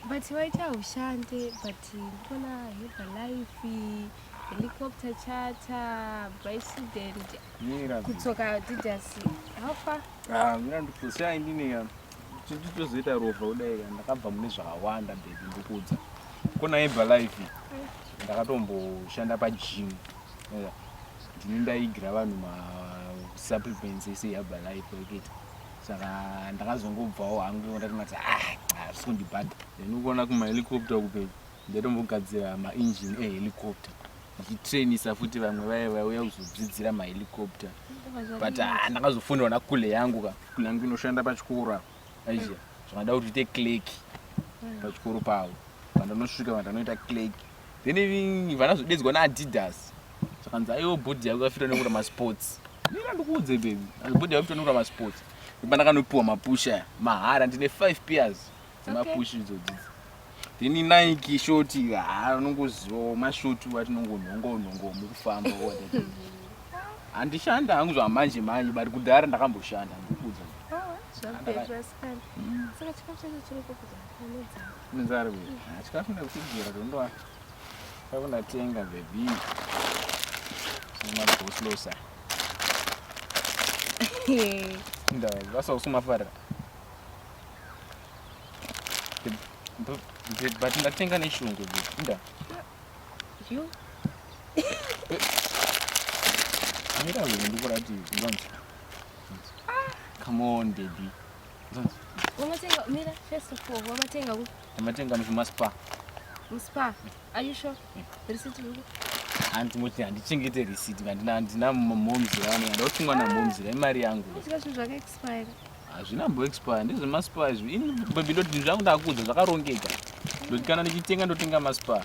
but waita ushande but ndikona heva life helicopter chata by student kutsoka didasi hafa ah, mira ndikusiya ndine titozoita rova kudai ndakabva mune zvakawanda bebi ndikuudza kona heva life ndakatomboshanda pagym ndini ndaigira vanhu masupplements ese yaba life ekita saka ndakazongobvawo hangu ndati mati hazvisi ah, kundibhadha then ukuona kumahelicopta kupei ndatombogadzira maengine ehelicopta ndichitrainisa futi vamwe vaye vauya kuzodzidzira mahelicopta but ah, ndakazofunirwa nakule yangu ka kule yangu inoshanda pachikoro apo aizia zvakada kuti ite clerk pachikoro pavo vandanosvika vandanoita clerk then vana zvodedzwa naadidas zvakanzi aiwo bhodhi yako yafitwa nekura masports mira ndikuudze bebi bhodhi yako fitwa nekura masports ipandakanopiwa mapusha aya mahara ndine five pears dzemapushi idzodzidzi then nike shoti haa unongozivawo mashoti watinongonhonga unhonga womukufamba handishanda hangu zvamanje manje but kudhara ndakamboshanda ndikuudza Mzari uyu. Chikafu nekutigera tondoa. Kavona tenga baby. Sima boslosa. Nda vasa usuma fara. But ndatenga neshungu baby. Nda. You. Mira wewe ndikuratidza. Come on baby. Wamatenga mira first of all wamatenga ku? Wamatenga muzvima spa. Mu spa. Are you sure? Mm. Receipt yuko. Anti moti handichengete receipt ngandina handina momz yavo ndauti mwana momz ra imari yangu. Zvika zvinhu zvaka expire. Hazvina mbo expire ndizvo ma spa izvo. Ini baby ndoti zvangu ndakuudza zvakarongeka. Ndoti kana ndichitenga ndotenga ma spa.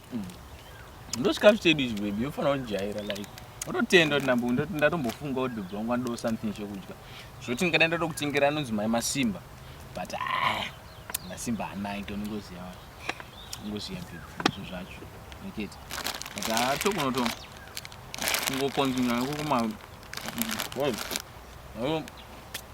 mm. ndosvika zvitedu izvi bebi yofanira kundijaira like ototenda kuti nambo ndatombofunga kuti bva wanga ndo something chokudya zvoti ndingada ndoda kutengera anonzi mai masimba but ah, masimba hanai to ndingoziva ndingoziva bebizvo zvacho neketi but atokunoto ah, kungokonzinya nekukuma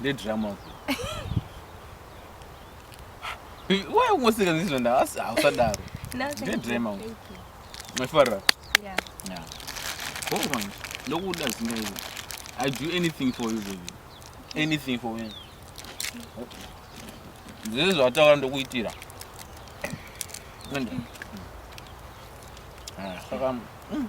Ndedrama uko. Why ungoseka ndizvo nda asi hausadaro. Ndedrama uko. Mafara. Yeah. Yeah. Go on. Ndokuda zinga iwe. I do anything for you baby. Anything for you. Ndizvo zvataura ndokuitira. Nenda. Ah, saka. Mm.